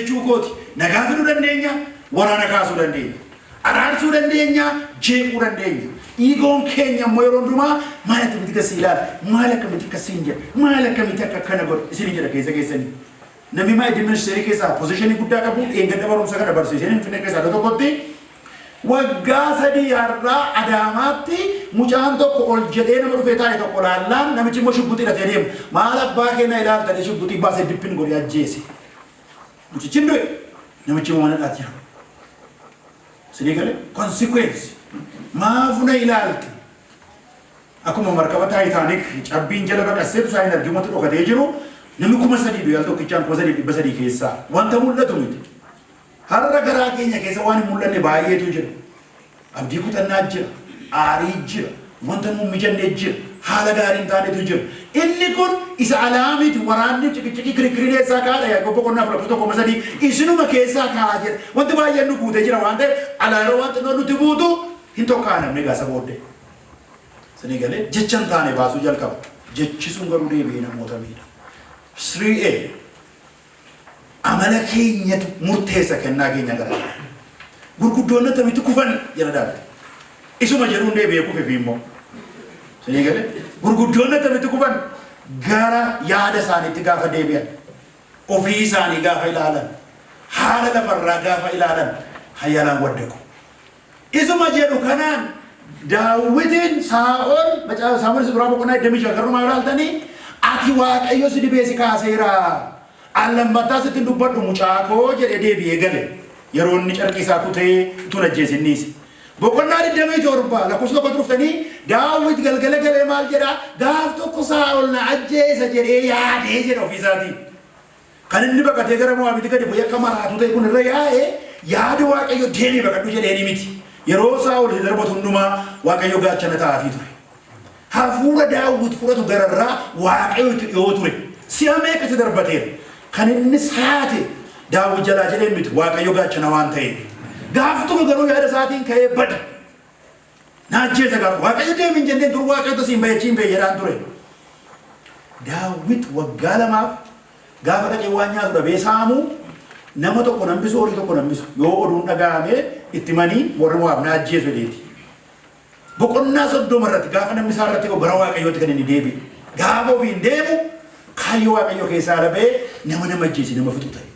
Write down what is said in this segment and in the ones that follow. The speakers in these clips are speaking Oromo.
jechuu kooti. Nagaa fiduu dandeenya, waraana kaasuu dandeenya. Araarsuu dandeenya, jeequu dandeenya. Iigoon keenya immoo yeroo hundumaa maal akkamitti akka si ilaala, maal akkamitti akka siin jedha, maal akkamitti akka akkana godha isin jedha keessa keessanii. Namni maa iddoo ministeerii keessaa pozishinii guddaa qabu dheengadda barumsa kana barsiiseen hin finne keessaa iddoo tokkotti waggaa sadii har'aa adaamaatti mucaan tokko ol jedhee nama dhufee taa'e tokko laallaan namichi immoo shugguxii hidhatee deema. Maal abbaa keenya ilaaltanii shugguxii baasee dippin godhee ajjeese. Mucichi hin du'e. Namichi immoo mana hidhaatti jira. Isinii gale? Consequence. Maafu na ilaalte? Akkuma markaba Taayitaanik cabbiin jala baqasseetu isaa hin argin wanti dhokatee jiru namni kuma sadii du'e al tokkichaan kuma sadii dhibba sadii keessaa wanta mul'atu miti. Har'a garaa keenya keessa waan hin mul'anne baay'eetu jira. Abdii kutannaa jira, aarii jira, wanta nuu hin mijanne jira, haala gaarii hin taanetu jira. Inni kun isa alaa miti, waraanni, ciqiciqii, kirikkiriin eessaa ka'a dha? Yaaqoob boqonnaa 4 lakkoofsa 1 3 isinuma keessaa ka'a jedha. Wanti baay'een nu guutee jira waan ta'eef alaa yeroo waan xinnoon nutti buutu hin tokkaanamne egaa isa booddee. Isinii galee jecha hin taane baasuu jalqaba. Jechi sun garuu deebi'ee namoota miidha. 3A. Amala keenyatu murteessa kennaa keenya gara garaa. Gurguddoonni attamitti kufan jedha Daawit. Isuma jedhuun deebi'ee kufe fi immoo. Sinii galee gurguddoonni attamitti kufan gara yaada isaaniitti gaafa deebi'an. Ofii isaanii gaafa ilaalan. Haala lafarraa gaafa ilaalan hayalaan waddaqu. Isuma jedhu kanaan Daawitiin Saa'ol, Macaafa Saamu'el Isa Duraa boqonnaa 26 garrumaa yoo ilaaltanii, ati Waaqayyo si dibee si kaaseera. An lammattaa sitti hin dubbadhu mucaa koo jedhee deebi'ee gale. Yeroo inni carqii isaa kutee utuu hin ajjeesin dhiise. Boqonnaa 27 lakkoofsa tokkotti dhuftanii Daawit galgala galee maal jedhaa? Gaaf tokko Saa'ol na ajjeesa jedhee yaadee jedha ofiisaatiin. Kan inni baqatee gara Mo'aabitti gadi bu'ee akka maraatuu ta'e kun irra yaa'e yaada Waaqayyo deemi baqadhu jedheenii miti. Yeroo Saa'ol isa darbatu hundumaa Waaqayyo gaachana ta'aafii ture. Hafuura Daawwit fudhatu gararraa Waaqayyo itti dhiyoo ture. Si'a meeqa isa darbateera. Kan inni saate Daawwit jalaa jedheen miti Waaqayyo gaachana waan ta'eef. Gaaf tokko garuu yaada isaatiin ka'ee bade. Na ajjeesa gaafa Waaqayyo deemi hin jenneen dur Waaqayyo utuu si hin bayachiin ba'e jedhaan ture. Daawwit waggaa lamaaf gaafa dhaqee waan nyaatu dhabee saamu nama tokko nan bisu horii tokko nan bisu yoo oduun dhaga'amee itti manii warri Mo'aab na ajjeesu jedheeti. Boqonnaa soddoma irratti gaafa namni isaa irratti gara Waaqayyootti kan inni deebi'e. Gaafa ofiin deemu kaayyoo Waaqayyoo keessaa ala ba'ee nama nama ajjeese nama fixu ta'e.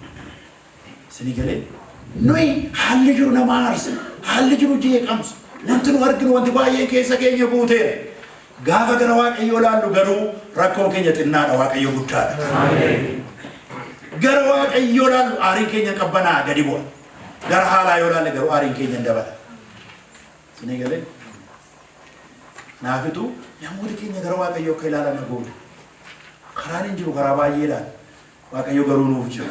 Isinii galee? Nuyi haalli jiru nama aarsa, haalli jiru jeeqamsa, wanti nu arginu wanti baay'een keessa keenya guuteera. Gaafa gara Waaqayyoo ilaallu garuu rakkoon keenya xinnaadha, Waaqayyo guddaadha. Gara Waaqayyoo ilaallu aariin keenya qabbanaa gadi bu'a. Gara haalaa yoo ilaalle garuu aariin keenya hin dabala. Isinii galee? Naafitu namoota keenya gara Waaqayyoo akka ilaalan goona. Karaan hin jiru karaa baay'eedhaan. Waaqayyo garuu nuuf jira.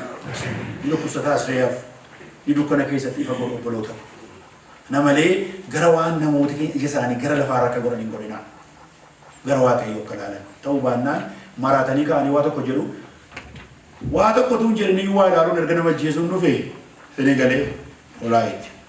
Ni dhukkubsata as reeyaaf. Ni dukkana keessatti ifa godhu obboloota. Kana malee gara waan namooti keenya ija isaanii gara lafaa irra akka godhan hin godhinaa. Gara Waaqayyo akka ilaalan. Ta'uu baannaan maraatanii ka'anii waa tokko jedhu. Waa tokko tuun jedhanii waa ilaaluun erga nama ajjeesuun dhufe fini galee olaa itti.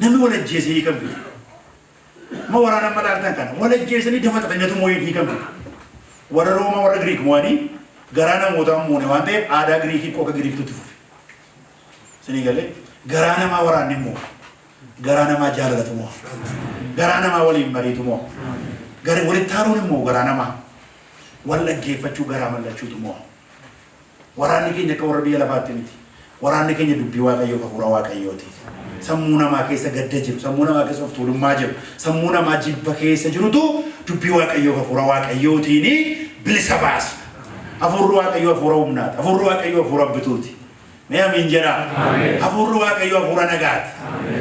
Namni wal ajjeese hiikan fide. Ma waraana amma laaltan kana. Wal ajjeesanii dafa xaxan nyatu moo'een hiikan fide. Warra Roomaa warra Giriik moo'anii garaa namootaa hin moone waan ta'eef aadaa Giriikii qoka Giriiktutti fufe. Isinii galee garaa namaa waraanni moo garaa namaa jaalalatu moo garaa namaa waliin mariitu moo gara walitti haaruun immoo garaa namaa wal dhaggeeffachuu garaa mallachuutu moo Waraanni keenya akka warra biyya lafaatti miti. Waraanni keenya dubbii Waaqayyoof hafuura Waaqayyooti. Sammuu namaa keessa gadda jiru, sammuu namaa keessa of tuulummaa jiru, sammuu namaa jibba keessa jirutu dubbii Waaqayyoof hafuura Waaqayyootiin bilisa baasna. Hafuurri Waaqayyoo hafuura humnaati. Hafuurri Waaqayyoo hafuura bituuti. Mee Amiin jedhaa. Hafuurri Waaqayyoo hafuura nagaati.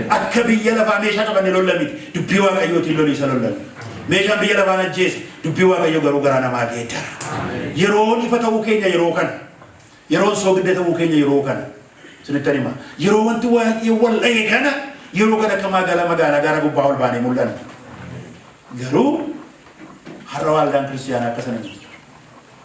Akka biyya lafaa meeshaa qabanne lolla miti. Dubbii Waaqayyootiin lolii isa lollanna. Meeshaan biyya lafaa najjeesa. Dubbii Waaqayyoo garuu garaa namaa geeddara. Yeroon ifa ta'uu keenya yeroo kana. Yeroon soogidda ta'uu keenya yeroo kana. Isinittan hima. Yeroo wanti waay'ee wal dha'e kana yeroo kana akka maagala magaalaa gaara gubbaa ol baanee mul'anna. Garuu har'a waaldaan kiristiyaanaa akka sana miti.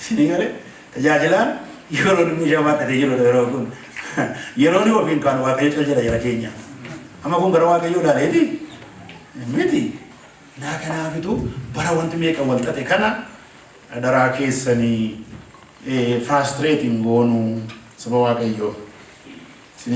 Isinii galee tajaajilaan yeroo inni ishee baadhatee jirudha yeroo kun. Yeroo inni ofiin kaanu waaqayyo cal jedha jara keenya. Amma kun gara waaqayyoo ilaaleeti miti. Naa kanaafitu bara wanti meeqa wal xaxe kana adaraa keessanii firaastireetiin goonuu saba waaqayyoo.